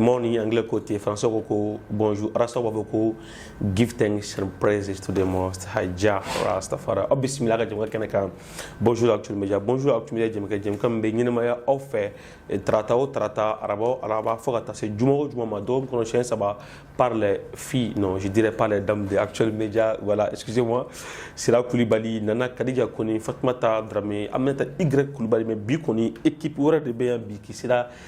Morning anglais ko ten français ko ko bonjour rastaw b'a fɔ ko give thanks and praises to the most high jah rastafari aw bisimila an ka jɛmukan kɛnɛ kan bonjour actuel media bonjour actuel media jɛmukɛ jɛmukan min bɛ ɲɛnamaya aw fɛ tarata o tarata araba o araba fo ka taa se juma o juma ma dɔgɔkun kɔnɔ siɲɛ saba par les filles non je dirais par les dames de actuel media voilà excusez moi sira kulibali nana kadija koni fatumata darame aminata y kulibali mais bi kɔni équipe wɛrɛ de bɛ yan bi k'i sera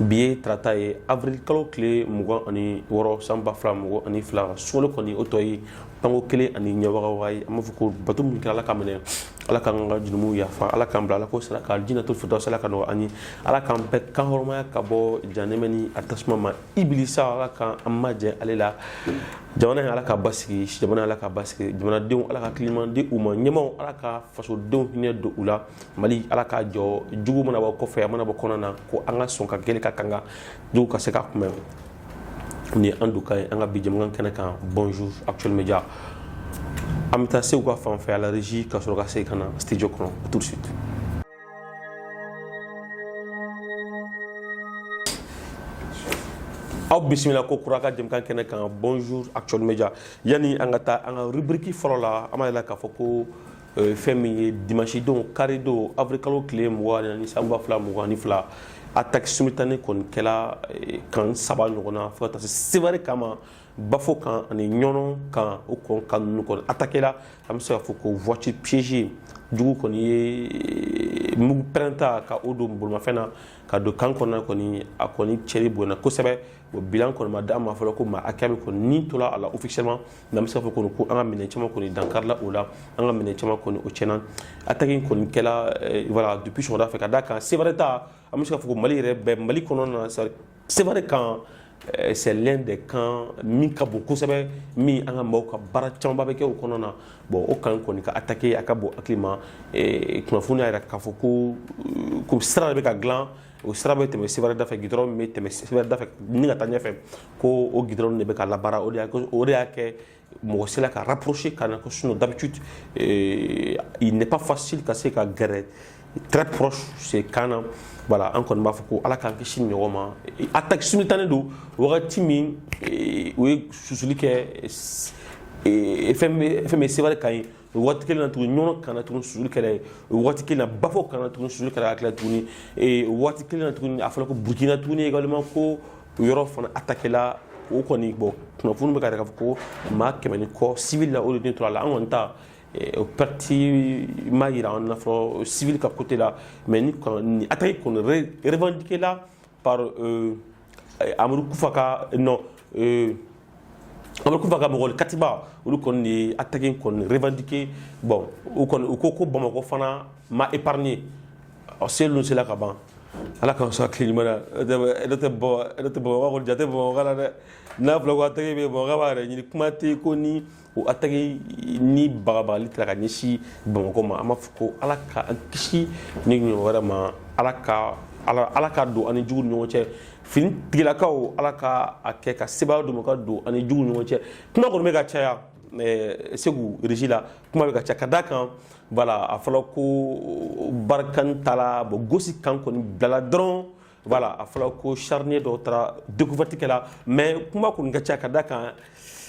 bi ye tarata ye avril kalo tile mugan ani wɔɔrɔ san ba fila mugan ani fila sunkalo kɔni o tɔ ye panko kelen ani ɲɛwagawa ye an b'a fɔ ko bato min kɛra ala k'a minɛ ala k'an ka jurumu yafa ala k'an bila ala k'o sara kɛ alijinɛtul firidɔsi ala k'a nɔgɔ ani ala k'an bɛɛ kan hɔrɔmaya ka bɔ janɛmɛ ni a tasuma ma ibilisa ala k'an an majɛ ale la jamana ye ala k'a basigi jamana ala k'a basigi jamanadenw ala ka hakilimaya di u ma ɲɛmaw ala ka fasodenw hinɛ don u la mali ala k'a jɔ jugu mana bɔ kɔfɛ a mana bɔ kɔnɔ na ko an ka sɔn ka gɛlɛ ka k'an ka jugu ka se k'a kunbɛn ni an don ka ye an ka bi jɛmukan kɛnɛ kan bonjour actuel media an bɛ taa seku ka fan fɛ à la régie ka sɔrɔ ka se ka na studio kɔnɔ tout de suite aw bisimila kokura an ka jɛmukan kɛnɛ kan bonjour actuel media yanni an ka taa an ka rubriki fɔlɔ la an b'a yira k'a fɔ ko fɛn min ye dimasidon karidon avril kalo tile mugan ni san ba fila mugan ni fila attaque simultanée kɔni kɛla camp saba ɲɔgɔn na fo taa se sevare camp ma bafo camp ani ɲɔnɔ camp o kɔni camp ninnu kɔni attaquer la an bɛ se k'a fɔ ko voiture piégée jugu kɔni ye mugu pɛrɛnta ka o don bolimafɛn na ka don camp kɔnɔna kɔni a kɔni cɛnni bonyana kosɛbɛ o bilan kɔni ma d'an ma fɔlɔ ko maa hakɛya min kɔni ni tora a la officiellement mais an bɛ se k'a fɔ kɔni ko an ka minɛn caman kɔni dankarila o la an ka minɛn caman kɔni o tiɲɛna attaque in kɔni kɛla eh, voilà depuis sɔgɔmada fɛ ka d'a kan sevare ta an bɛ se k'a fɔ ko mali yɛrɛ bɛɛ mali kɔnɔna na sevare camp eh, c'est l'un des camps min ka bon kosɛbɛ min an ka maaw ka baara camanba bɛ kɛ o kɔnɔna na bon o camp kɔni ka attaquer a ka bon hakili ma eh, kunnafoni y'a jira k'a fɔ ko ko sira de bɛ ka dilan o sira bɛ tɛmɛ sevare dafɛ gidɔrɔn min bɛ tɛmɛ sevare dafɛ ni ka taa ɲɛfɛ ko o gidɔrɔn de bɛ ka labaara o de y'a o de y'a kɛ mɔgɔ sera ka rapprocher ka na ko sinon d'habitude euh, il n'est pas facile ka se ka gɛrɛ très proche ce camp na voilà an kɔni b'a fɔ ko ala k'an kisi nin ɲɔgɔn ma attaque simultanée don wagati min euh, o ye susuli kɛ euh, fɛn bɛ fɛn bɛ sevare camp yen o waati kelen na tuguni ɲɔnɔ camp na tuguni susuli kɛra yen o waati kelen na bafo camp na tuguni susuli kɛra ka tila tuguni o waati kelen na tuguni a fɔra ko burukina tuguni également ko o yɔrɔ fana attaquer la o kɔni bon kunnafoni bɛ ka yira k'a fɔ ko maa kɛmɛ ni kɔ civil la o de ni tora a la an kɔni ta o parti ma yira an na fɔlɔ civil ka côté la mais nin attaque kɔni revendiquer la par euh, amadu kufa ka non euh, amadu kufa ka mɔgɔ katiba olu kɔni de ye attaque kɔni revendiqué bon u kɔni u ko ko bamakɔ fana ma épargné ɔ seli ninnu sela ka ban ala k'an sɔn hakili ɲuman na ne tɛ bɔ ne tɛ bamakɔ kɔni jate bamakɔ la dɛ n'a fɔra ko attaque bɛ bamakɔ b'a yɛrɛ ɲini kuma tɛ ko ni o ataki ni bagabagali taara ka ɲɛsin bamakɔ ma an b'a fɔ ko ala ka an kisi ni ɲɔgɔn wɛrɛ ma ala ka ala ka don an ni jugu ɲɔgɔn cɛ finitigilakaw ala ka a kɛ ka seba dɔ ka don an ni jugu ɲɔgɔn cɛ kuma kɔni bɛ ka caya eh, sécurité la kuma bɛ ka caya ka da kan voilà a fɔra ko barkhane taara bon gosi camp kɔni bilala dɔrɔn voilà a fɔra ko charnier dɔw taara découverte kɛla mais kuma kɔni ka ca ka da kan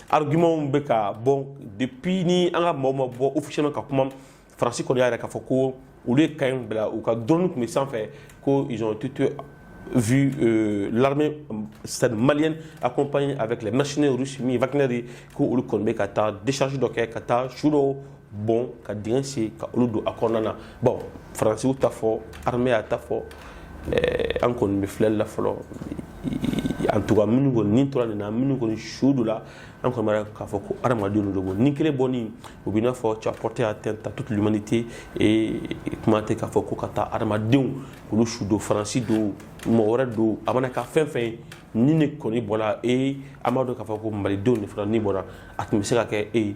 argumentw bɛ ka bɔ depuis ni an ka maaw ma bɔ officiellement ka kuma faransi kɔni y'a yira k'a fɔ ko olu ye camp in bila u ka drone tun bɛ sanfɛ ko ils ont été vu euh, l'armée c'est-à-dire malienne accompagnée avec les mercenaires russes mi Wagner ko olu kɔni bɛ ka taa décharge dɔ kɛ ka taa su dɔw bɔn ka dingɛ sen ka olu don a kɔnɔna na bon faransi y'a ta fɔ armée y'a ta fɔ eh, an kɔni bɛ filɛli la fɔlɔ en tout cas minnu kɔni ni tora nin na minnu kɔni su do la an kɔni b'a k'a fɔ ko hadamadenw de don ni kelen bɔni o b'i n'a fɔ tu as porté atteinte à toute l'humanité et kuma tɛ k'a fɔ ko ka taa hadamadenw olu su do faransi don mɔgɔ wɛrɛ don a mana kɛ fɛn fɛn ye ni ni kɔni bɔra e an b'a dɔn k'a fɔ ko malidenw de fana ni bɔra a tun bɛ se ka kɛ e ye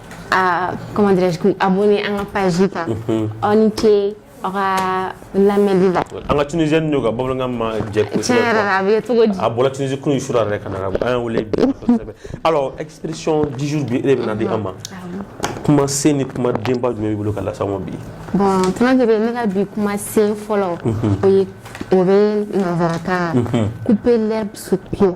Ah, comment dirais-je, abonné à la page. Mhm. aw ni ce aw ka lamɛnli la an ka tunisienne n'o ka bamanankan ma jɛ kosɛbɛ tiɲɛ yɛrɛ la a bɛ cogo di a bɔra tunisie kunu su yɛrɛ ka na an y'a wele bi kosɛbɛ alors expression du jour bi e de bɛna di an ma kuma sen ni kuma denba jumɛn b'i bolo ka lase an ma bi bon tɔnɔkebe ne ka bi kuma sen fɔlɔ o ye o bɛ nanzarakan couper l'herbe sous pied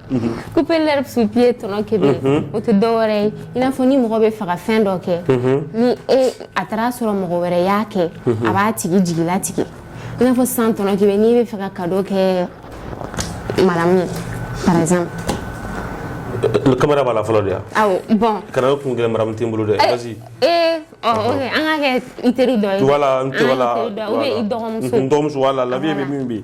Couper l'herbe sous pied tɔnɔkebe o tɛ dɔwɛrɛ ye i n'a fɔ ni mɔgɔ bɛ fɛ ka fɛn dɔ kɛ ni a taara sɔrɔ mɔgɔ wɛrɛ y'a kɛ a b'a tigi jigilatigɛ i n'a fɔ sisan tɔnɔkebe n'i bɛ fɛ ka cadeau kɛ madame ye caméra b'a la fɔlɔ de bon kana kun gɛlɛn madame tɛ n bolo dɛ ee an ka kɛ teri dɔ dɔgɔmuso la labi bɛ min bi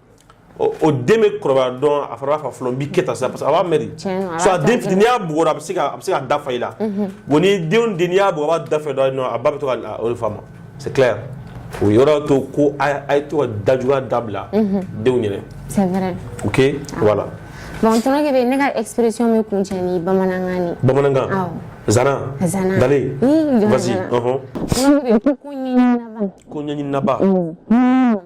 o den bɛ kɔrɔbaya dɔn a fɔra fa fɔlɔ bi kɛ sa parce que a b'a mɛn den y'a bugɔ a bɛ se a bɛ se ka da fa i la bon ni dɔ den y'a bugɔ a b'a da fa dɔn a ba bɛ to a fa ma c'est clair o yɔrɔ to ko a ye to dajuguya dabila denw ɲɛ na ok voilà bon tɔnɔkebe ne ka expression bɛ kuncɛ ni bamanankan bamanankan zana zana dale vas-y ko ɲani laban ko ɲani laban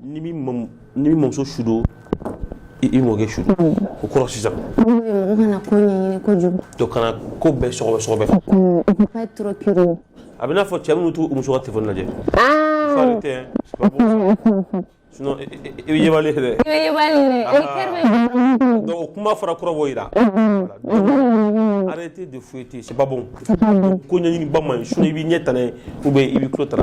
ni min mamuso su don i mɔkɛ su o kɔrɔ sisan kana ko ɲɛɲini kojugu to kana ko bɛɛ sɔgɔbɛ sɔgɔbɛ a b'i n'a fɔ cɛ minnu t'u muso ka telefɔni lajɛ faut arrêter sinon i bɛ yebali ye dɛ i bɛ yebali ye dɛ donc o kuma fana kɔrɔ b'o jira arrêtez de fouetter c'est pas bon ko ɲɛɲini ba man ɲi sinon i b'i ɲɛ tana ye ou bien i b'i tulo tana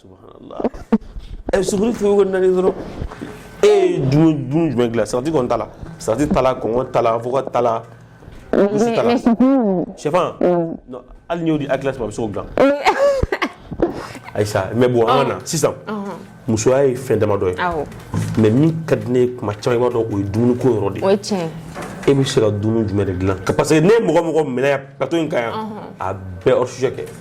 subhanallah ɛ eh, suguri fɛn o nani dɔrɔn e ye dumuni jumɛn dilan salati kɔni t'a la salati t'a la kɔnkɔn t'a la avocat t'a la misi t'a la syɛfan hali n'i y'o di akilasi ma a bɛ se k'o dilan Ayisa mais bon an ka na sisan musoya ye fɛn damadɔ ye mais min ka di ne ye kuma caman i b'a dɔn o ye dumuni ko yɔrɔ de ye e bɛ se ka dumuni jumɛn de dilan parce que ne ye mɔgɔ mɔgɔ minɛ yan plateau in kan yan a bɛɛ hors sujet kɛ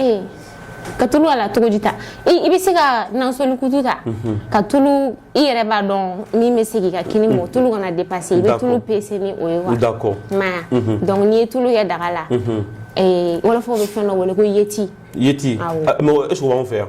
ee ka tulu a la cogo di ta i bɛ se ka nansɔli kutu ta mhm. ka tulu i yɛrɛ b'a dɔn min bɛ se k'i ka kini mɔ mhm. tulu kana depase i bɛ tulu pese ni o ye wa i m'a ye mhm. donc n'i ye tulu kɛ daga la wɔlɔfɔw bɛ fɛn dɔ wele ko yeti yeti mais est ce que o b'anw fɛ yan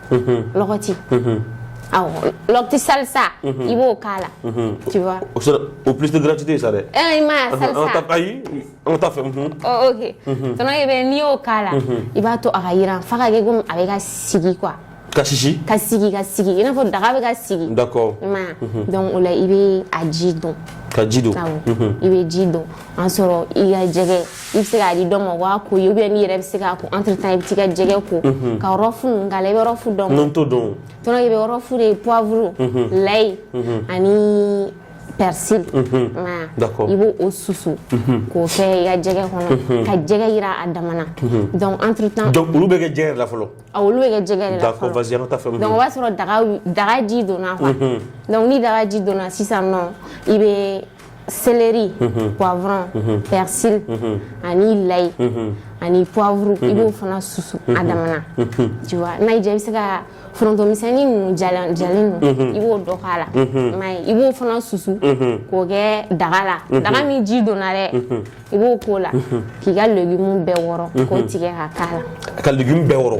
lɔgɔti awɔ lɔgɔti salsa i b'o k'a la tu vois o kɛra publicité gratuite ye sa dɛ eh i ma salsa ayi an taa a fɛ oh ok tɔnɔ ye bɛ n'i y'o k'a la i b'a to a ka yiran f'a ka kɛ komi a bɛ ka sigi quoi ka sisi ka sigi ka sigi i n'a fɔ daga bɛ ka sigi d'accord i ma donc o la i bɛ a ji don ka ji don awɔ i bɛ ji don an sɔrɔ i ka jɛgɛ i bɛ se k'a di dɔ ma o b'a ko i ye ou bien n'i yɛrɛ bɛ se k'a ko entre temps i bɛ t'i ka jɛgɛ ko mhm. ka rɔfu ninnu k'a la i bɛ rɔfu dɔn non n t'o dɔn tɔnɔ i bɛ rɔfu de poivre mhm. layi mhm. ani persil i b'o o susu k'o kɛ i ka jɛgɛ kɔnɔ ka jɛgɛ yiran a damana donc entre temps donc olu bɛ kɛ jɛgɛ de la fɔlɔ a olu bɛ kɛ jɛgɛ de la fɔlɔ vas y an ka taa a fɛ donc o b'a sɔrɔ daga daga ji donna quoi donc ni daga ji donna sisan nɔ i bɛ seleri poivron persil ani layi ani poivre i b'o fana susu a damana tu vois n'a y'i diya i bɛ se ka foronto misɛnni ninnu jalen jalen ninnu i b'o dɔ k'a la i m'a ye i b'o fana susu k'o kɛ daga la daga min ji donna dɛ i b'o k'o la k'i ka legume bɛɛ wɔrɔ k'o tigɛ ka k'a la ka legume bɛɛ wɔrɔ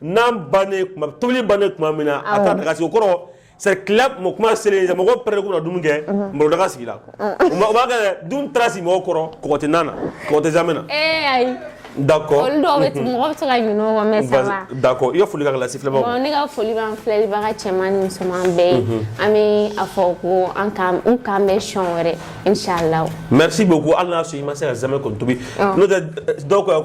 N'an ban tobili bannen tuma min na a taara daga sigi o kɔrɔ kuma selen mɔgɔ pɛrɛn ko na dumuni kɛ malo daga sigi la b'a kɛ dun taara sigi mɔgɔ kɔrɔ kɔgɔ tɛ na na kɔgɔ tɛ zamɛ na d'accord i ka foli ka lase ne ka foli filɛbaga cɛman ni musoman bɛɛ ye an bɛ a fɔ ko an k'an bɛn don wɛrɛ inchallah merci beaucoup hali n'a sɔrɔ i ma se ka zamɛ kɔni tobi n'o dɔw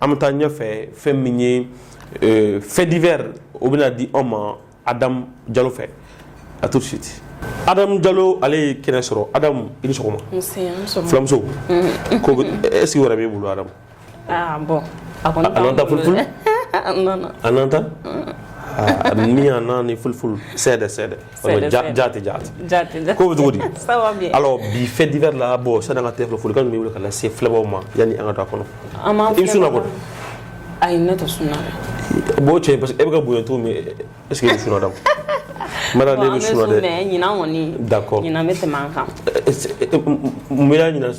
an bɛ taa ɲɛfɛ fɛn min ye euh, fait divers o bɛna di anw ma Adam Jalo fɛ à tout de suite Adam Jalo ale ye kɛnɛ sɔrɔ Adam i ni sɔgɔma fulamuso mm. ko est ce que wɛrɛ b'e bolo Adam ah bon a kɔni a nanataa fulfulde a nana a nanataa ni a nani fulfulde sɛɛdɛ sɛɛdɛ jaati jaati jaati ko bɛ cogo di ça va bien alors bi fait divers la bon sani an ka tɛmɛ folikan min bɛ wele ka lase filɛbaaw ma yanni an ka don a kɔnɔ an b'an i bɛ sunna kɔni ayi ne tɛ sunna bon cɛ parce que e bɛ ka bonya cogo min est ce que i bɛ sun Adam Mara ne bɛ sunna dɛ ɲinan kɔni d'accord ɲinan bɛ tɛmɛ an kan mun y'a ɲinan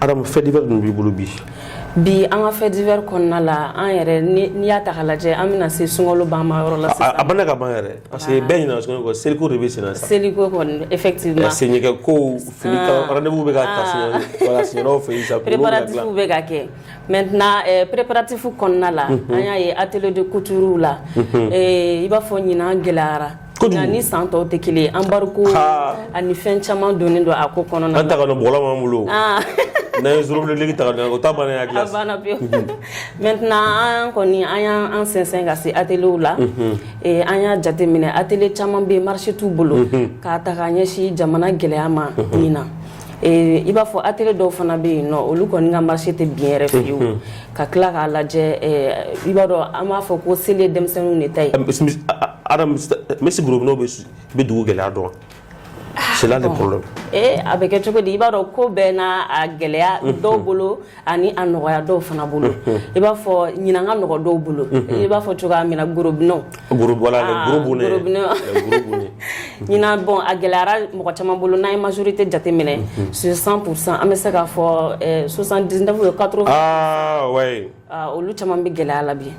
Adam fait divers dun b'i bolo bi bi an ka fait divers kɔnɔna la an yɛrɛ n'i y'a ta k'a lajɛ an bɛna se sunkalo ban ma yɔrɔ la a bɛ ka ban yɛrɛ parce que bɛɛ ɲinɛna sunkalo kɔ seliko de bɛ sen na seliko effectivement c'est vrai que ko fini bɛ ka ta préparatifs bɛ ka kɛ maintenant préparatifs kɔnɔna la an y'a ye atelier de couture la i b'a fɔ ɲinan gɛlɛyara nka ni san tɔw tɛ kelen ye embargo ani fɛn caman donnen don a ko kɔnɔna na an ta ka don bɔgɔlan b'an bolo ah. n'an ye zorobilenliki ta ka don o ta bannen a dilan a banna pewu mhm. maintenant an kɔni an y'an sɛnsɛn ka se ateliers la mhm. eh, an y'a jateminɛ atelier caman bɛ yen marché t'u bolo mhm. k'a ta ka ɲɛsin jamana gɛlɛya ma nin na Ee i b'a fɔ atelier dɔw fana bɛ yen nɔ olu kɔni ka marché tɛ bin yɛrɛ fiyewu ka tila k'a lajɛ i b'a dɔn an b'a fɔ ko seli ye denmisɛnninw de ta ye même si gorobinɛw bɛ dugu gɛlɛya dɔn c'est là le problème a bɛ kɛ cogo di i b'a dɔn ko bɛɛ na a gɛlɛya dɔw bolo ani a nɔgɔya dɔw fana bolo i b'a fɔ ɲinan ka nɔgɔ dɔw bolo i b'a fɔ cogoya min na gorobinɛw ɲinan bon a gɛlɛyara mɔgɔ caman bolo n'an ye majorité jateminɛ sur cent pour cent an bɛ se k'a fɔ soixante-dix-neuf ou quatre-vingts olu caman bɛ gɛlɛya la bi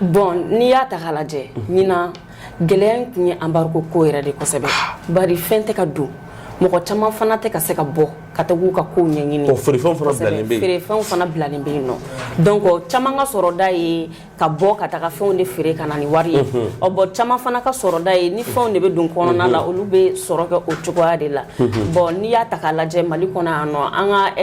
Bon n'i y'a ta k'a lajɛ ɲinan gɛlɛya in kun ye embargo ko yɛrɛ de kosɛbɛ bari fɛn tɛ ka don mɔgɔ caman fana tɛ ka se ka bɔ ka taa k'u ka kow ɲɛɲini feerefɛnw fana bilalen bɛ yen nɔ donc caman ka sɔrɔda ye ka bɔ ka taga fɛnw de feere ka na ni wari ye ɔ bon caman fana ka sɔrɔda ye ni fɛnw de bɛ don kɔnɔna la olu bɛ sɔrɔ kɛ o cogoya de la bon n'i y'a ta k'a lajɛ Mali kɔnɔ yan nɔ an ka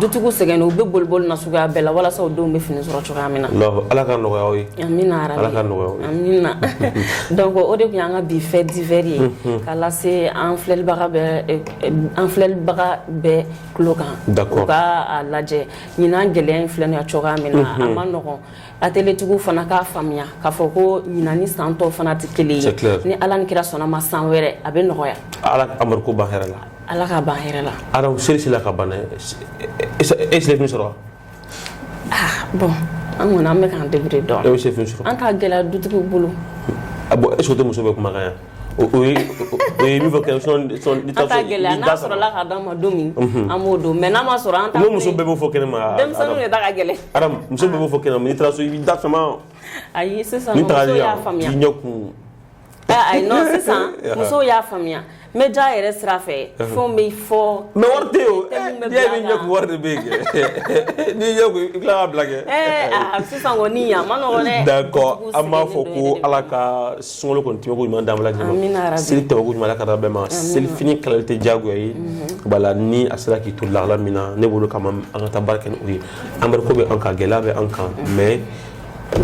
dutigiw sɛgɛnnen u bɛ boli boli na suguya bɛɛ la walasa u denw bɛ fini sɔrɔ cogoya min na Allahu- ala ka nɔgɔya aw ye amina yarabi. Ala ka nɔgɔya aw ye. amina donc o de tun y'an ka bi fait divers ye Mhm. k'a lase an filɛlibaga bɛɛ eh, eh, an filɛlibaga bɛɛ tulo kan D'accord. u ka a lajɛ ɲinan gɛlɛya in filɛ nin ye cogoya min na a Mhm. man nɔgɔn Atelier tigiw fana k'a faamuya k'a fɔ ko ɲinan ni san tɔw fana tɛ kelen ye ni ala ni kira sɔnna ma san wɛrɛ a bɛ nɔgɔya ala Amadu ko ban hɛrɛ la ala k'a ban hɛrɛ la alors seli sera ka ban e seli fini sɔrɔ ah, bon an kɔni an bɛ k'an débrouiller dɔɔnin e bɛ se fini sɔrɔ an t'a gɛlɛya dutigiw bolo a bon est-ce que o tɛ muso bɛɛ kumakan yan O ye min fɔ kɛ n'a sɔrɔla ka d'an ma don min an b'o don mais n'a ma sɔrɔ an t'a muso bɛɛ b'o fɔ kɛnɛ ma denmisɛnninw de ta ka gɛlɛn Adam muso bɛɛ b'o fɔ kɛnɛ ma n'i taara so i b'i da sama ayi sisan musow y'a faamuya k'i ɲɛ kumu ayi sisan musow y'a faamuya média yɛrɛ sira fɛ fɛnw bɛ fɔ mais wari tɛ yen n'i ɲɛ kumu wari de bɛ yen kɛ n'i ɲɛ kumu i tila k'a bila kɛ sisan kɔni a man nɔgɔn d'accord an b'a fɔ ko ala ka sunkalo kɔni tɛmɛko ɲuman d'an bɛɛ lajɛlen ma seli tɛmɛko ɲuman ala k'a d'an bɛɛ ma seli fini kalali tɛ diyagoya ye mhm. voilà ni a sera k'i to lahala min na ne bolo kama an ka taa baara kɛ ni o ye embargo bɛ an kan gɛlɛya bɛ an kan mhm. mais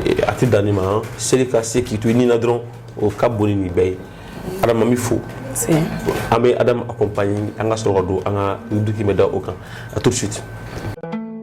eh, a tɛ dan nin ma seli ka se k'i to i ni na dɔrɔn o ka bon ni nin bɛɛ ye Adam an b'i fo an bɛ Adam accompagner an ka sɔrɔ ka don an ka duki bɛ da o kan à tout de suite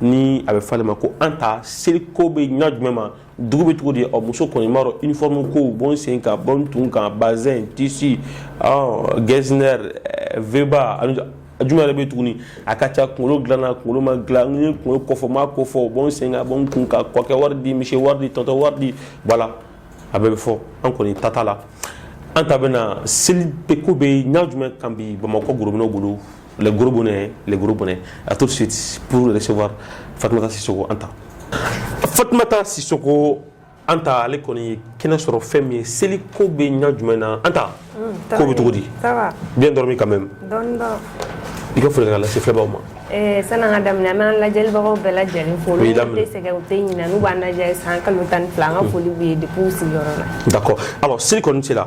ni a bɛ fɔ ale ma ko Anta seli ko bɛ ɲɛ jumɛn ma dugu bɛ cogo di ɔ muso kɔni b'a dɔn uniforme ko bɔn sen kan bɔn kun kan bazin tissu ɔ Getzner eh, Veba ani jumɛn yɛrɛ bɛ tuguni a ka ca kunkolo dilanna kunkolo ma dilan n ye kunkolo kɔfɔ ma kɔfɔ bɔn sen kan bɔn kun kan ko kɛ wari di misi wari di tɔtɔ wari di voilà a bɛɛ bɛ fɔ an kɔni tata la Anta bɛ na seli ko bɛ ɲɛ jumɛn kan bi bamakɔ gorobinɛ bolo les gros bonnets les gros bonnets à tout de suite pour recevoir Fatoumata Sissoko Anta Fatoumata Sissoko Anta ale kɔni ye kɛnɛ sɔrɔ fɛn min ye seli ko bɛ ɲɛ jumɛn na Anta mm, ko bɛ cogo di bien dormi quand même i ka foli ka lase filɛbaaw ma eh, sani an ka daminɛ an bɛ lajɛlibagaw bɛɛ lajɛlen fo olu tɛ sɛgɛn u tɛ ɲinɛ n'u b'an lajɛ san kalo tan ni fila an ka mm. foli b'u ye depuis u sigiyɔrɔ la d'accord alors seli kɔni sera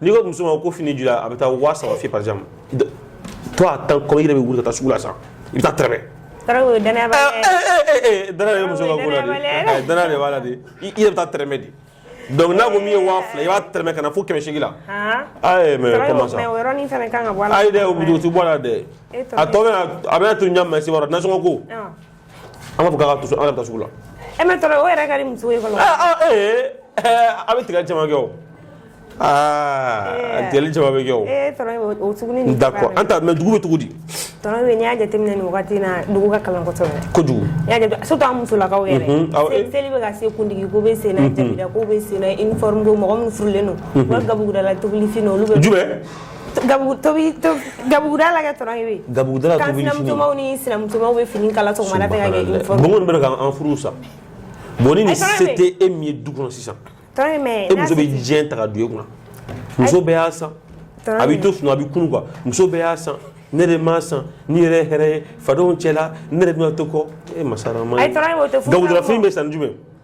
n'i ko muso ma ko fini joli la a bɛ taa waa saba f'i ye par exemple toi attends kɔmi i yɛrɛ bɛ wuli ka taa sugu la sa i bɛ taa tɛrɛmɛ Tarawe dana b'a la dɛ. dana de bɛ muso ka ko la de Dana Eh, dana de b'a la de i i yɛrɛ bɛ taa tɛrɛmɛ de donc n'a ko min ye waa fila i b'a tɛrɛmɛ ka na fo kɛmɛ seegin la Han. ayi mais Tarawe, comment ça mais o yɔrɔnin fana kan ka bɔ a la. ayi dɛ o bɛ o tɛ bɔ a la dɛ E tɔgɔ a tɔ bɛ na a bɛna to ɲa mais e b'a dɔn nasɔngɔ ko Ɔn. An b'a fɔ k'a ka to so, an yɛrɛ bɛ taa sugu la. Eh mais Tarawe, o yɛrɛ ka di muso ye fɔlɔ. Aa aa ee ɛɛ a bɛ tigɛli caman kɛ o. Aa a tigɛli caman bɛ kɛ o. Ee tɔɔrɔ ye o suguni nin. D'accord Anta mais dugu bɛ cogo di? Tarawe n'i y'a jateminɛ nin wagati in na dugu ka kalan kosɛbɛ. Kojugu. N'i y'a jate surtout an musolakaw yɛrɛ. Unhun awɔ. Seli seli bɛ ka se kundigi ko bɛ sen na jabida ko bɛ sen na uniforme ko mɔgɔ minnu furulen don. Unhun. U ka gabugu da la tobili fini olu bɛ. Jumɛn? gabuguda la gabuguda sinamusow ni sinamusow bɛ fini kala sɔgɔma fɛ ka kɛ uniforme bon minnu bɛ ka an furu sa bon ni nin se tɛ e min ye du kɔnɔ sisan e muso bɛ diɲɛ ta ka don e kunna muso bɛɛ y'a san a bɛ to sunɔgɔ a bɛ kunu quoi muso bɛɛ y'a san ne de m'a san ni yɛrɛ ye hɛrɛ ye fadenw cɛla ne de bɛna to kɔ e masara ma ye gabuguda la fini bɛ san ni jumɛn ye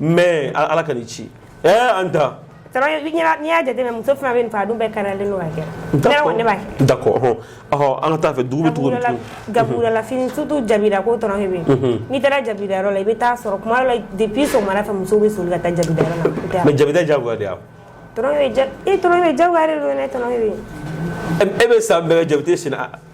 mais ala k'an kisi ɛɛ eh, an ta n'i y'a jateminɛ muso fana bɛ nin fɔ a dun bɛɛ karalen don ka kɛ ne kɔni ne b'a kɛ d'accord ɔhɔn ɔhɔn an ka taa fɛ dugu bɛ cogo min gabuguda la fini surtout jabida ko tɔrɔ bɛ yen n'i taara jabida yɔrɔ la i bɛ taa sɔrɔ kuma dɔ la depuis sɔgɔmada fɛ musow bɛ soli ka taa jabida yɔrɔ la mais jabida jagoya de y'a tɔrɔ bɛ ja e tɔrɔ bɛ jagoya de don dɛ tɔrɔ bɛ e bɛ san bɛɛ jabida sen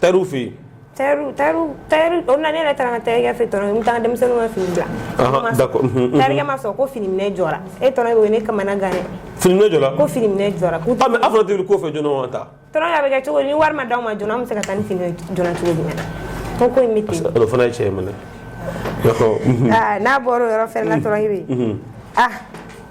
Tailleur fɛ yen tailleur tailleur tailleur o nana ne yɛrɛ taara n ka tailleur fɛ tɔnɔ n taara denmisɛnninw ka fini bila ɔhɔn d'accord tailleurkɛ ma sɔn ko fini minɛ jɔra e tɔnɔ bɛ ne kamana gan dɛ fini minɛ jɔra ko fini minɛ jɔra k'u tɛ ah mais a fɔra tɛ wuli ko fɛ joona wa ta tɔnɔ a bɛ kɛ cogo di ni wari ma d'an ma joona an bɛ se ka taa ni fini ye joona cogo jumɛn na ko ko in bɛ ten o fana ye cɛ ye mɛnɛ n'a bɔra o yɔrɔ fɛnɛ na tɔnɔ i bɛ ah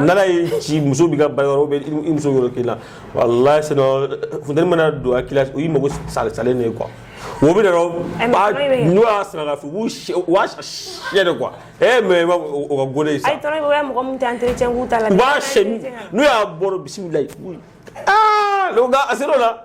n'ala ye ci muso b'i ka baara yɔrɔ bɛ i muso yɔrɔ k'i la walayi sinon funteni mana don a la o y'i mago salen salen de ye quoi o bɛ n'o y'a sara fo u b'a siyɛn de quoi e mais o ka gole sa mɔgɔ min tɛ entretien k'u ta la n'u y'a bɔ bisimila la a se la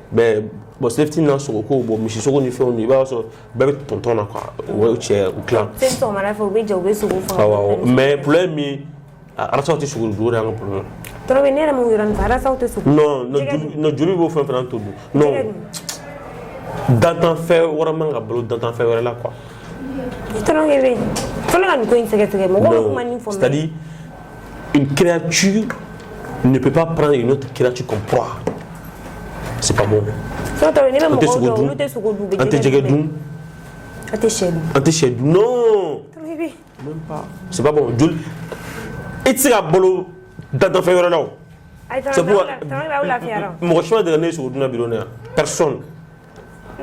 mais bon selifitini na sogo ko bon misi sogo ni fɛnw i b'a sɔrɔ bɛɛ bɛ tɔntɔn na quoi o cɛ u tilan mais problème min arasaw tɛ sogo dun o de y'an ka problème tɔrɔ ne yɛrɛ mun yɔrɔ nin arasaw tɛ sogo non joli bɛ fɛn o fɛn na an t'o dun non dantanfɛn wɛrɛ man ka balo dantanfɛn wɛrɛ la quoi tɔrɔ bɛ fo ne ka nin ko in sɛgɛsɛgɛ mɔgɔw bɛ kuma nin fɔ c'est à dire Une créature ne peut pas prendre une autre créature comme proie. C'est pas bon. An tɛ sogo dun, an tɛ jɛgɛ dun, an tɛ sɛ dun, an tɛ sɛ dun, non. Même pas. C'est pas bon. Joli. I tɛ se ka balo dantanfɛn wɛrɛ la o. C'est pourquoi mɔgɔ si ma deli ka ne ye sogo dunna bi don na yan personne.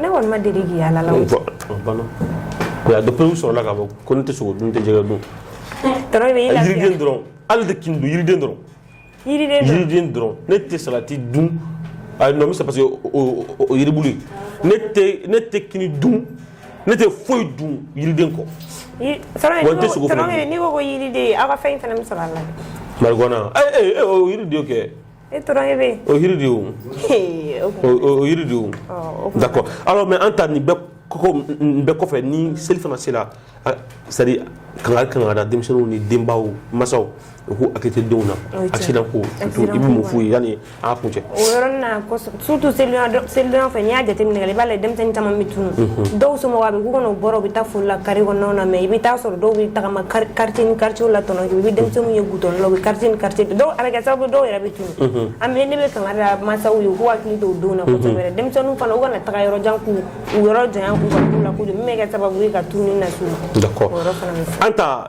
ne kɔni ma deli k'i y'a la o dɔpere sɔrɔla k'a fɔ ko ne tɛ sogo dun n tɛ jɛgɛ dun yiriden dɔrɔn hali i tɛ kini dun yiriden dɔrɔn yiriden dɔrɔn ne tɛ salati dun non mais parce que o yiribulu ye ne tɛ kini dun ne tɛ foyi dun yiriden kɔ n tɛ sogo n'i ko ko yiriden aw ka fɛn in fana bɛ sɔrɔ a la marijuana yiriden kɛ E tora e bɛ yen o yiriden o yiriden o d'accord alors mais an ta nin bɛɛ kɔfɛ ni seli fana sera c'est à dire kankari kan ka da denmisɛnninw ni denbaw masaw u k'u hakili to denw na accident ko surtout i bɛ mun f'u ye yanni an k'a kuncɛ surtout selidon fɛ n'i y'a jateminɛ i b'a lajɛ denmisɛnnin caman bɛ tunun mhm. dɔw somɔgɔw a bɛ k'u kɔnɔ u bɔra u bɛ taa foli la carré kɔnɔnaw na mais i bɛ taa sɔrɔ dɔw bɛ tagama quartier ni quartier la tɔnɔ i bɛ denmisɛnninw ye gudɔrɔn la u bɛ quartier ni quartier dɔw a bɛ kɛ sababu dɔw yɛrɛ bɛ tunun mhm. an bɛ ne bɛ kangari da mansaw ye u k'u hakili to o denw na kosɛbɛ mhm. denmisɛnninw fana u kana taga yɔrɔ jan k'u u yɔrɔ janya k'u ka k'u la kojugu min bɛ kɛ sababu ye ka tununni las'u ma d'accord an ta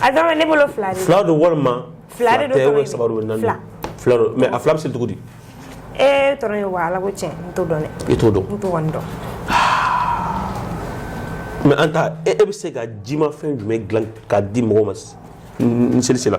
A ne bolo fila fila don walima fila sabali naani fila mais a fila bɛ seli cogo di e ye wa ala ko tiɲɛ n t'o dɔn i t'o dɔn n t'o dɔn mais an taa e bɛ se ka jimafɛn jumɛn dilan k'a di mɔgɔw ma ni seli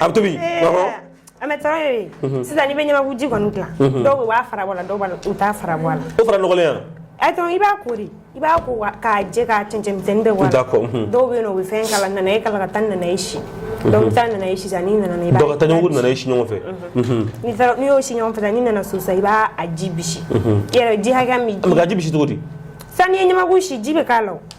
A bɛ tobi an bɛ taara ye sisan n'i bɛ ɲamakuji kɔni dilan dɔw b'a fara bɔ a la dɔw u t'a fara bɔ a la o fara nɔgɔya a i b'a ko de i b'a ko k'a jɛ k'a cɛncɛn bɛɛ bɔ a la dɔw bɛ o bɛ fɛn kala nanaye kala ka taa nanaye si donc i taa nanaye si nana nanaye si ɲɔgɔn fɛ n'i y'o si ɲɔgɔn fɛ n'i nana so i b'a ji ji hakɛ ji cogo di sisan ɲamaku si ji bɛ k'a la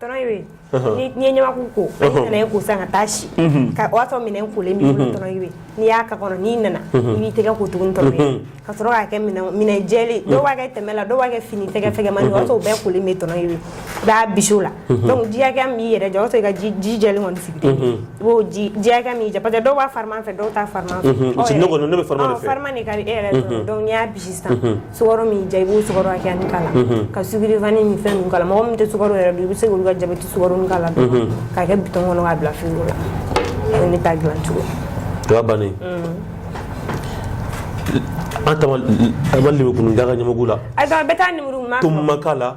tɔnɔ ye be n'i ye ɲamaku ko nanaye ko sisan ka taa si ka o y'a sɔrɔ minɛn kolen b'i bolo tɔnɔ ye be n'i y'a k'a kɔnɔ n'i nana i b'i tɛgɛ ko tugun tɔnɔ ye ka sɔrɔ k'a kɛ minɛn jɛlen dɔw b'a kɛ tɛmɛ la dɔw b'a kɛ fini tɛgɛ fɛgɛmani o y'a sɔrɔ o bɛɛ kolen bɛ tɔnɔ ye be i b'a bisi o la donc ji hakɛya min b'i yɛrɛ diya o y'a sɔrɔ i ka ji jɛlen kɔni sigi i b'o ji hakɛya min y'i diya parce que dɔw b'a fariman fɛ dɔw t'a fariman fɛ farima de ka di e yɛrɛ donc n'i y'a bisi sisan sukaro min y'i diya i b'o sukaro hakɛya nin k'a la ka sucre vanille ni fɛn ninnu k'a la mɔgɔ min tɛ sukaro yɛrɛ dun i bɛ se k'olu ka jabɛti sukaro nin k'a la dɔrɔn k'a kɛ bitɔn kɔnɔ k'a bila firigo la o ye ne ta dilan cogo ye o bannen an taama an ma lemurukumuni da ka ɲamaku la ayi bɛɛ t'a lemurukumuni ma tɔmɔ ma k'a la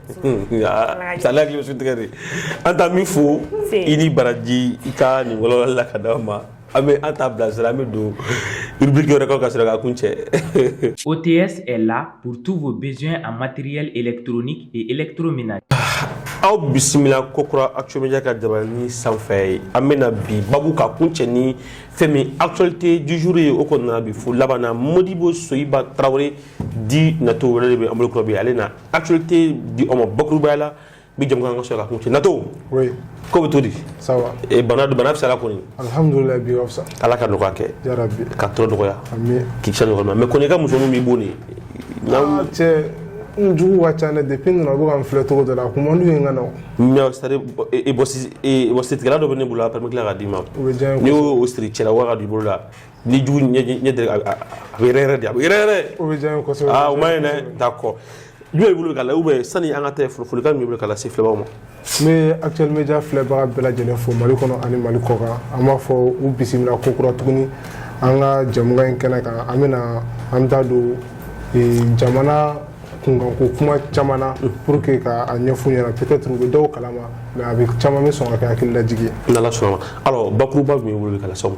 ale hakili bɛ suntigɛ de an taa min fo i ni baraji i ka nin walawala ka d'aw ma an bɛ an t'a bilasira an bɛ don rubrique wɛrɛ kɔnɔ ka sɔrɔ k'a kuncɛ OTS est là pour tous vos besoins en matériel électronique et électroménager aw bisimila kokura actumedia ka jabaranin sanfɛ ye an bɛna bi babu ka kuncɛ ni fɛn min actualité du jour ye o kɔnɔna bi fo labanna modibo soyiba tarawele dit nato wɛrɛ de bɛ an bolo kura bi ale na actualité di aw ma bakurubaya la bi jɛmukan ka sɔrɔ k'a kuncɛ nato oui ko bɛ cogo di ça va e bana bana fisara kɔni alhamdulillah bi a ka fisa ala ka nɔgɔya kɛ ya rabbi ka tɔɔrɔ nɔgɔya amin k'i kisa nɔgɔya mais kɔni i ka musoninw b'i bon de ah cɛ n jugu ka ca ne depuis n nana u bɛ ka n filɛ cogo dɔ la a kun man d'u ye n ka na o mais c'est à dire bɔsi bɔsitigɛla dɔ bɛ ne bolo a permet k'a d'i ma o bɛ diya n ye n'i y'o siri cɛla wa k'a don i bolo la ni jugu ɲɛ deli a bɛ yɛrɛ yɛrɛ de a bɛ yɛrɛ yɛrɛ o bɛ diya n ye kosɛbɛ aa o ma ɲi dɛ d'accord jumɛn b'i bolo ka la ou bien sani an ka taa folikan min b'i bolo ka lase filɛbaaw ma n bɛ actuel media filɛbaga bɛɛ lajɛlen fo mali kɔnɔ ani mali kɔkan an b'a fɔ u bisimila ko kura tuguni an ka jɛmukan in kɛnɛ kan an bɛna an da don jamana kunkanko kuma caman na pour que ka a ɲɛf'u ɲɛna peut-être u bɛ dɔw kalama mais a bɛ caman bɛ sɔn ka kɛ hakililajigi ye n'ala sɔnna ma alors bakuruba jumɛn b'i bolo ka lase aw ma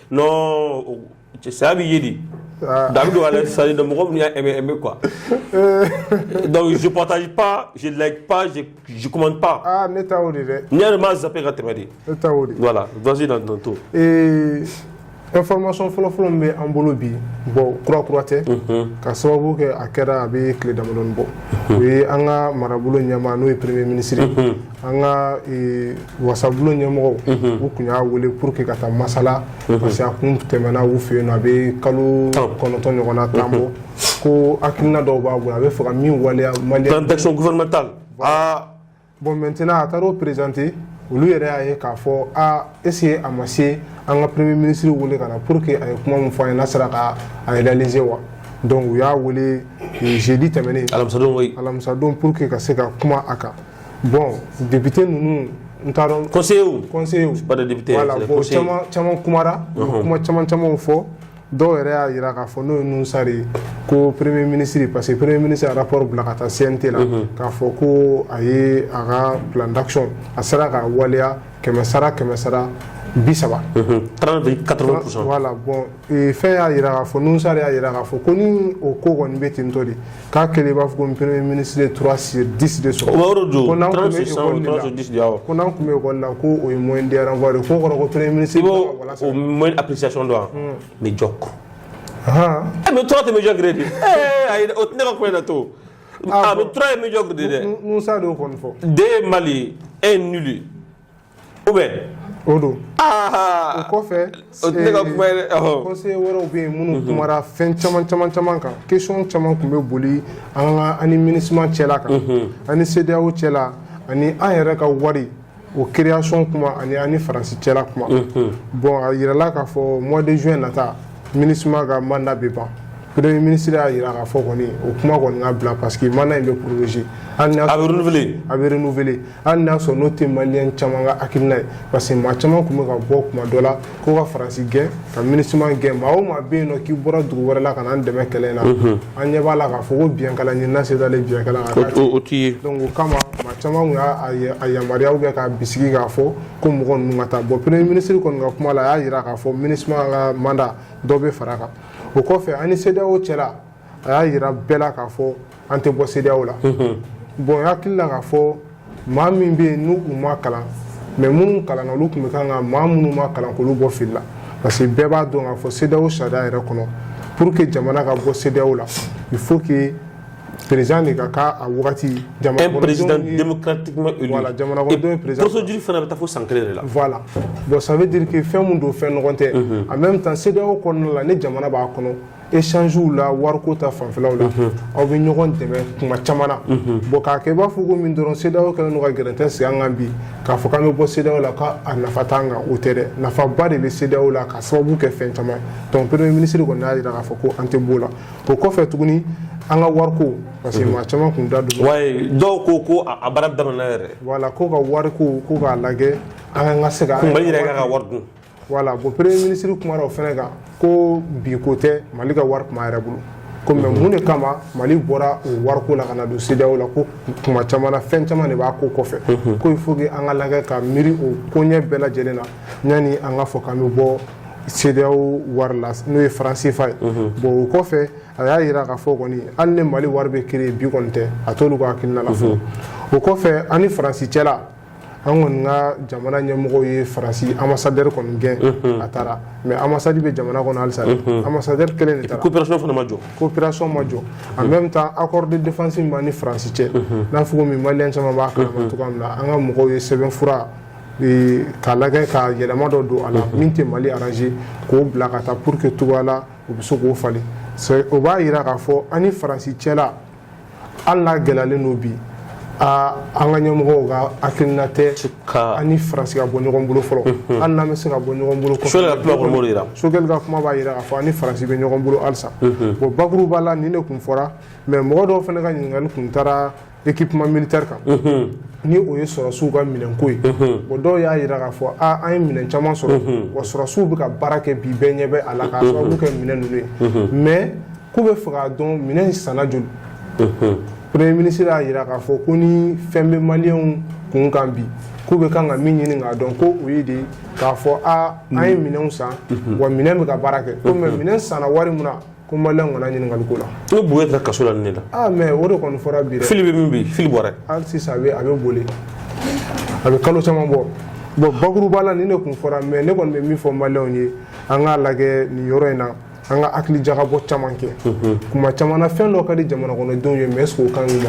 non saya bɛ ye de ah. da bɛ don ale sari dɔn mɔgɔ min y'a aimé aimé quoi euh. donc je partage pas je like pas je je commente pas ah ne ta o de dɛ ne yɛrɛ m'a zappé ka tɛmɛ de ne ta o de voilà vas-y dans ton tour ee information fɔlɔfɔlɔ min bɛ an bolo bi bon kura kura tɛ mhm. ka sababu kɛ a kɛra a bɛ tile damadɔni bɔ mhm. o ye an ka marabolo ɲɛmaa n'o ye premier ministre mhm. an ka e, wasabulon ɲɛmɔgɔw mhm. u kun y'a wele pour que ka taa masala mhm. parce que a kun tɛmɛna u fɛ yen nɔ a bɛ kalo kɔnɔntɔn ɲɔgɔn na tan bɔ mhm. ko hakilina dɔw b'a bolo a bɛ fɛ ka min waleya mali yan plan d'action gouvernementale aa bon maintenant a taara o présenter olu yɛrɛ y'a ye k'a fɔ est-ce que a ma se an ka premier ministre wele ka na pour que a ye kuma min fɔ an ye n'a sera ka a réaliser wa donc u y'a wele jeudi tɛmɛnen alamisadon alamisadon pour que ka se ka kuma a kan bon député ninnu n t'a dɔn conseillers conseillers député voilà bon caman caman kumara kuma caman camanw fɔ dɔw yɛrɛ y'a jira k'a fɔ n'o ye Nouhoum Sarr ye ko premier ministre parce que premier ministre y'a rapport bila ka taa cnt la k'a fɔ ko a ye a ka plan d'action a sera ka waleya kɛmɛ sara kɛmɛ sara bi saba voilà bon fɛn y'a jira k'a fɔ Nouhoum Sarr y'a jira k'a fɔ ko ni o ko kɔni bɛ ten tɔ de k'a kɛlen i b'a fɔ ko premier ministre ye trois sur dix de sɔrɔ o bɛ yɔrɔ jɔ ko n'an tun bɛ école de la ko n'an tun bɛ école la ko o ye moyenne de renvoi de k'o kɔrɔ ko premier ministre bɛ ka wala sara i b'o o moyenne appréciation dɔn wa médiocre ɛ mais trois tɛ médiocre de ye ɛɛ ayi o tɛ ne ka kuma in na to a mais trois ye médiocre de ye dɛ Nouhoum Sarr de y'o kɔni fɔ deux ye mal un nul ou bien o don o kɔfɛ ne ka kuma ye conseiller wɛrɛw bɛ yen minnu kumara fɛn caman caman caman kan question caman tun bɛ boli an ka ani minusma cɛla kan ani cedeao cɛla ani an yɛrɛ ka wari o création kuma ani an ni faransi cɛla kuma bon a jirala k'a fɔ mois de juin nata minusma ka mandat bɛ ban premier ministre y'a jira k'a fɔ kɔni o kuma kɔni ka bila parce que mandat in bɛ prolonger a bɛ a bɛ n hali n'a sɔrɔ n'o tɛ maliyɛn caman ka hakilina ye parce que maa caman tun bɛ ka bɔ kuma dɔ la ko ka faransi gɛn ka MINUSMA gɛn maa o maa bɛ yen nɔ k'i bɔra dugu wɛrɛ la ka n'an dɛmɛ kɛlɛ in na an ɲɛ b'a la k'a fɔ ko biɲɛkala ɲinina sen dalen biɲɛkala kan k'a o t'i ye donc o kama maa caman tun y'a a yamaruya ou bien k'a bisigi k'a fɔ ko mɔgɔ ninnu ka taa bon premier ministre kɔni ka kuma la a y'a yira k'a fɔ MINUSMA ka mandat dɔ bɛ fara a kan o kɔfɛ an ni CEDEAO cɛla a y'a yira bɛɛ la k'a fɔ an tɛ bɔ CEDEAO la bon n hakili la k'a fɔ maa min bɛ yen n'u ma kalan mais minnu kalanna olu tun bɛ kan ka maa minnu ma kalan k'olu bɔ fili la parce que bɛɛ b'a dɔn k'a fɔ CEDEAO sariya yɛrɛ kɔnɔ pour que jamana ka bɔ CEDEAO la il faut que président de ka kɛ a wagati un président démocratiquement élu voilà jamanakɔnɔdenw ye président procédure fana bɛ taa fo san kelen de la voilà bon ça veut dire que fɛn min don fɛn nɔgɔn tɛ en même temps CEDEAO kɔnɔna la ni jamana b'a kɔnɔ échange la wariko ta fanfɛlaw la aw bɛ ɲɔgɔn dɛmɛ kuma caman na bon k'a kɛ i b'a fɔ ko min dɔrɔn CEDEAO kɛlen ka gɛrɛntɛ sigi an kan bi k'a fɔ k'an bɛ bɔ CEDEAO la k'a nafa t'an kan o tɛ dɛ nafaba de bɛ CEDEAO la ka sababu kɛ fɛn caman donc premier ministre kɔni y'a jira k'a fɔ ko an tɛ b'o la o kɔfɛ tuguni an ka wariko parce que maa caman kun da don dɔw ko ko a baara daminɛna yɛrɛ voilà ko ka wariko ko k'a lajɛ an ka se ka wari dun voilà bon premier ministre kumara o fɛnɛ kan ko bi ko tɛ mali ka wari kuma yɛrɛ bolo ko mais mun de kama mali bɔra o wariko la ka na don CEDEAO la ko kuma caman na fɛn caman de b'a ko kɔfɛ ko il faut que an ka lagɛ ka miiri o koɲɛ bɛɛ lajɛlen na yanni an ka fɔ k'an bɛ bɔ CEDEAO wari la n'o ye franc CFA ye bon o kɔfɛ a y'a yira k'a fɔ kɔni hali ni mali wari bɛ créer bi kɔni tɛ a t'olu ka hakilina la fɔlɔ o kɔfɛ an ni faransi cɛla an kɔni ka jamana ɲɛmɔgɔw ye faransi ambassadeur kɔni gɛn a taara mais ambassade bɛ jamana kɔnɔ halisa ambassadeur kelen de taara coopération fana ma jɔ coopération ma jɔ en même temps accord de défense min b'an ni faransi cɛ n'a fɔ komi maliyɛn caman b'a kalama cogo min na an ka mɔgɔw ye sɛbɛn fura k'a lagɛ ka yɛlɛma dɔ don a la min tɛ mali arranger k'o bila ka taa pour que cogoya la u bɛ se k'o falen o b'a jira k'a fɔ an ni faransi cɛla hali n'a gɛlɛyalen don bi aa an ka ɲɛmɔgɔw ka hakilina tɛ ka an ni faransi ka bɔ ɲɔgɔn bolo fɔlɔ hali n'an bɛ se ka bɔ ɲɔgɔn bolo kɔfɛ Sogɛli ka kuma kɔni b'o de jira. sogɛli ka kuma b'a jira k'a fɔ an ni faransi bɛ ɲɔgɔn bolo halisa bon bakuruba la nin de kun fɔra mais mɔgɔ dɔw fana ka ɲininkali kun taara équipement militaire kan ni o ye sɔrɔsiw ka minɛnko ye bon dɔw y'a yira k'a fɔ a an ye minɛn caman sɔrɔ wa sɔrɔsiw bɛ ka baara kɛ bi bɛɛ ɲɛ bɛ a la k'a sababu kɛ minɛn ninnu ye mais k'u bɛ fɛ k'a dɔn minɛn in sanna joli premier ministre y'a jira k'a fɔ ko ni fɛn bɛ maliyɛnw kun kan bi k'u bɛ kan ka min ɲini k'a dɔn ko o ye de k'a fɔ a an ye minɛnw san wa minɛn bɛ ka baara kɛ ko mais minɛn sanna wari mun na ko maliyɛnw kana ɲininkali k'o la boubèye taara kaso la nin de la ah mais o de kɔni fɔra bi dɛ fili bɛ min bi fili bouaré hali sisan a bɛ a bɛ bollé a bɛ kalo caman bɔ bɔn bakuruba la nin de kun fɔra mais ne kɔni bɛ min fɔ maliyɛnw ye an k'a lajɛ nin yɔrɔ in na an ka hakili jagabɔ caman kɛ kuma caman na fɛn dɔ ka di jamana kɔnɔdenw ye mais est-ce que o ka ɲi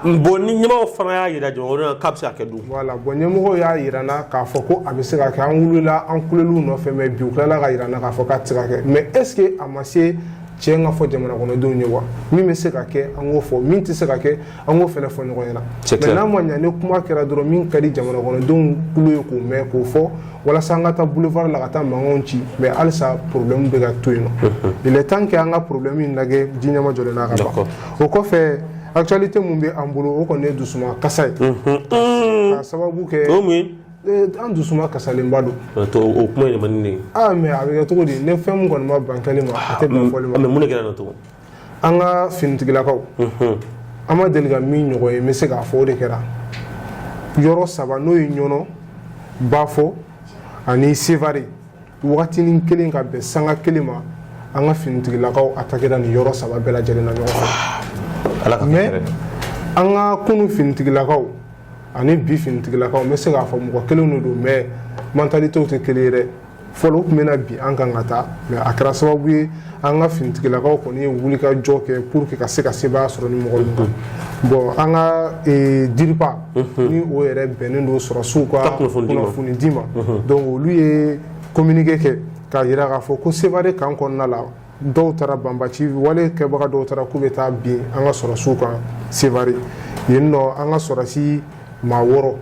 u ma bon ni ɲɛmɔgɔw fana y'a jira jamana k'a bɛ se ka kɛ dun voilà bon ɲɛmɔgɔw y'a jira an na k'a fɔ ko a bɛ se ka kɛ an wulila an kulela u nɔfɛ mais bi u tilala k'a jira an na k'a fɔ k'a tɛ se ka kɛ mais est-ce que a ma se tiɲɛ ka fɔ jamana kɔnɔdenw ye wa min bɛ se ka kɛ an k'o fɔ min tɛ se ka kɛ an k'o fana fɔ ɲɔgɔn ɲɛna mais n'a ma ɲa ni kuma kɛra dɔrɔn min ka di jamana kɔnɔdenw tulo ye k'o mɛn k'o fɔ walasa an ka taa boulevard la ka taa mankanw ci mais halisa problème bɛ ka to yen nɔ il est temps que an ka problème in lajɛ ji ɲɛmajɔlen na a ka ban o kɔfɛ actualité mun bɛ an bolo o kɔni ye dusuma kasa ye k'a sababu kɛ an dusuma kasalenba don o kuma yɛrɛ man di ne ye aa mais a bɛ kɛ cogo di ni fɛn mun kɔni ma ban kɛli ma a tɛ ban fɔli ma mais mun de kɛra an na tugun an ka finitigilakaw an ma deli ka min ɲɔgɔn ye n bɛ se k'a fɔ o de kɛra yɔrɔ saba n'o ye ɲɔnɔ bafo ani sevare wagatinin kelen ka bɛn sanga kelen ma an ka finitigilakaw attaquera nin yɔrɔ saba bɛɛ lajɛlen na ɲɔgɔn fɛ mais an ka kunu finitigilakaw ani bi finitigilakaw n bɛ se k'a fɔ mɔgɔ kelen de don mais mentalitéw tɛ kelen ye dɛ fɔlɔ u tun bɛ na bin an kan ka taa mais a kɛra sababu ye an ka finitigilakaw kɔni ye wulikajɔ kɛ pour que ka se ka sebaaya sɔrɔ nin mɔgɔ ninnu kan bon an ka e, DIRPA mhm. ni o yɛrɛ bɛnnen don sɔrɔsiw ka kunnafoni di ma mhm. donc olu ye communiqué kɛ k'a jira k'a fɔ ko sevare kan kɔnɔna la dɔw taara banbaci wale kɛbaga dɔw taara k'u bɛ taa bin an ka sɔrɔsiw kan Sevare yen nɔ an ka sɔrɔsi maa wɔɔrɔ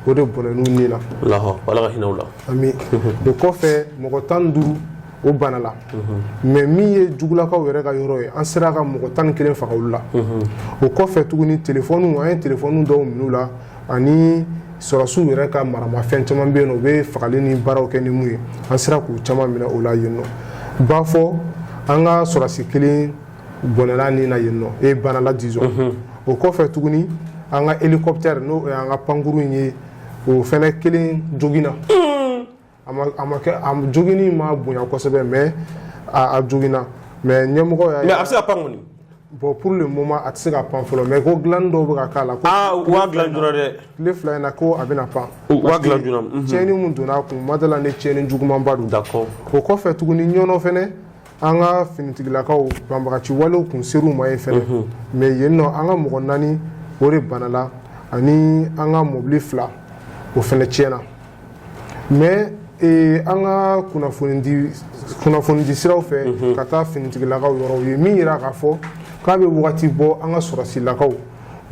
o de bɔnɛn'u ni na Ala ka hinɛ u la ami o kɔfɛ mɔgɔ tan ni duuru o banala mais min ye jugulakaw yɛrɛ ka yɔrɔ ye an sera ka mɔgɔ tan ni kelen faga olu la o kɔfɛ tuguni telefɔniw an ye telefɔni dɔw minɛ u la ani sɔrɔsiw yɛrɛ ka maramafɛn caman bɛ yen nɔ u bɛ fagali ni baaraw kɛ ni mun ye an sera k'u caman minɛ o la yen nɔ bafo an ka sɔrɔsi kelen bɔnɛn'a ni na yen nɔ e ye banala disons mhm. o kɔfɛ tuguni an ka elikɔpitɛri n'o y'an ka pankuru in ye o fɛnɛ kelen joginna. a ma a ma kɛ a joginni ma bonya kosɛbɛ mais a a joginna mais ɲɛmɔgɔ y'a mais a bɛ se ka pan kɔni bon pour le moment a tɛ se ka pan fɔlɔ mais ko dilanni dɔw bɛ ka k'a la ko aa u b'a dilan joona dɛ tile fila in na ko a bɛna pan u b'a dilan joona mhm. tiɲɛni mun donna a kun n ma d'a la ni tiɲɛni jugumanba don d'accord o kɔfɛ tuguni ɲɔnɔ fɛnɛ an ka finitigilakaw banbagaci walew kun ser'u ma yen fɛnɛ mais yen nɔ an ka mɔgɔ naani o de banala ani an ka mɔbili fila o fɛnɛ tiɲɛna mais eh, an ka kunnafonidi kunnafonidi siraw fɛ ka taa finitigilakaw yɔrɔ u ye min yira k'a fɔ k'a bɛ wagati bɔ an ka sɔrɔsilakaw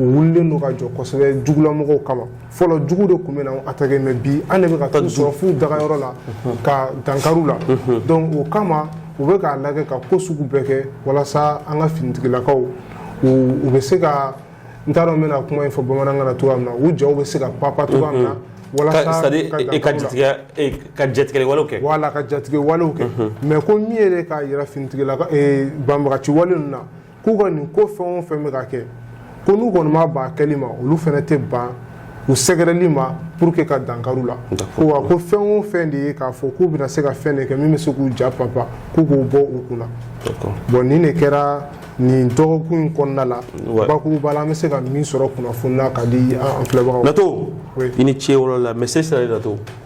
u wulilen don ka jɔ kosɛbɛ jugulamɔgɔw kama fɔlɔ jugu de tun bɛ na attaquer mais bi an de bɛ ka t'u sɔrɔ f'u dagayɔrɔ la ka dankari u la donc o kama u bɛ k'a lajɛ ka ko sugu bɛɛ kɛ walasa an ka finitigilakaw u bɛ se ka n t'a dɔn n bɛna kuma in fɔ bamanankan na cogoya min na u jaw bɛ se ka papa cogoya min na walasa ka jatigɛ ka jatigɛ walew kɛ wala ka jatigɛ walew kɛ mais ko min yɛrɛ k'a yira finitigilaka banbagaci wale ninnu na k'u ka nin ko fɛn o fɛn bɛ ka kɛ ko n'u kɔni ma ban kɛli ma olu fɛnɛ tɛ ban u sɛgɛrɛli ma pour que ka dankari u la ko wa ko fɛn o fɛn de ye k'a fɔ k'u bɛna se ka fɛn de kɛ min bɛ se k'u ja papa k'u k'o bɔ u kunna bon nin de kɛra nin dɔgɔkun in kɔnɔna la bakuruba la an bɛ se ka min sɔrɔ kunnafoni na ka di an filɛbagaw ma. Nato i ni ce o yɔrɔ la message sera i la Nato.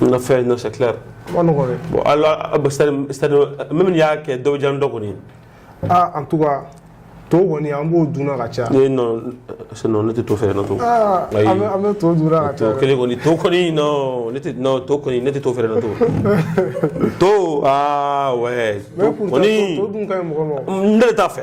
na fɛn non c'est clair man nɔgɔ dɛ bon alors c'est-à-dire même n'i y'a kɛ dɔ bɛ diya dɔ kɔni ah en tout cas to kɔni an b'o dun na ka caya ne non c'est non ne tɛ to fɛ Nato ah ayi an bɛ an bɛ to dun na ka to caya kelen kɔni to kɔni non ne tɛ non to kɔni ne tɛ to fɛ Nato to ah ouais mais to pourtant to- kɔni to dun ka ɲi mɔgɔ ma o. n yɛrɛ t'a fɛ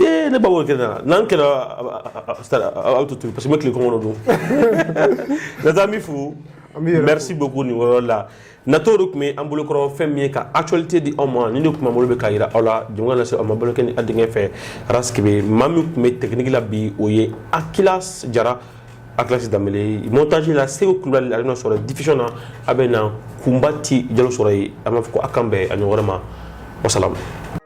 ee ne ba b'o kɛ na n'an kɛlɛ a bɛ to tobi parce que n bɛ tile kɔngɔ don Nato an b'i fo merci beaucoup nin yɔrɔ la Nato de tun bɛ an bolokɔrɔ fɛn min ye ka actualité di aw ma nin de tun b'an bolo bi ka jira aw la jɛmukan lase aw ma bolokɛ ni a denkɛ fɛ ara maa min tun bɛ technique la bi o ye Aki Jara a kilasi da montage la Seku Kulubali a sur la diffusion na a bɛna Kunbati Jalo sɔrɔ yen an b'a fɔ ko k'an bɛn a ɲɔgɔn wɛrɛ ma wasa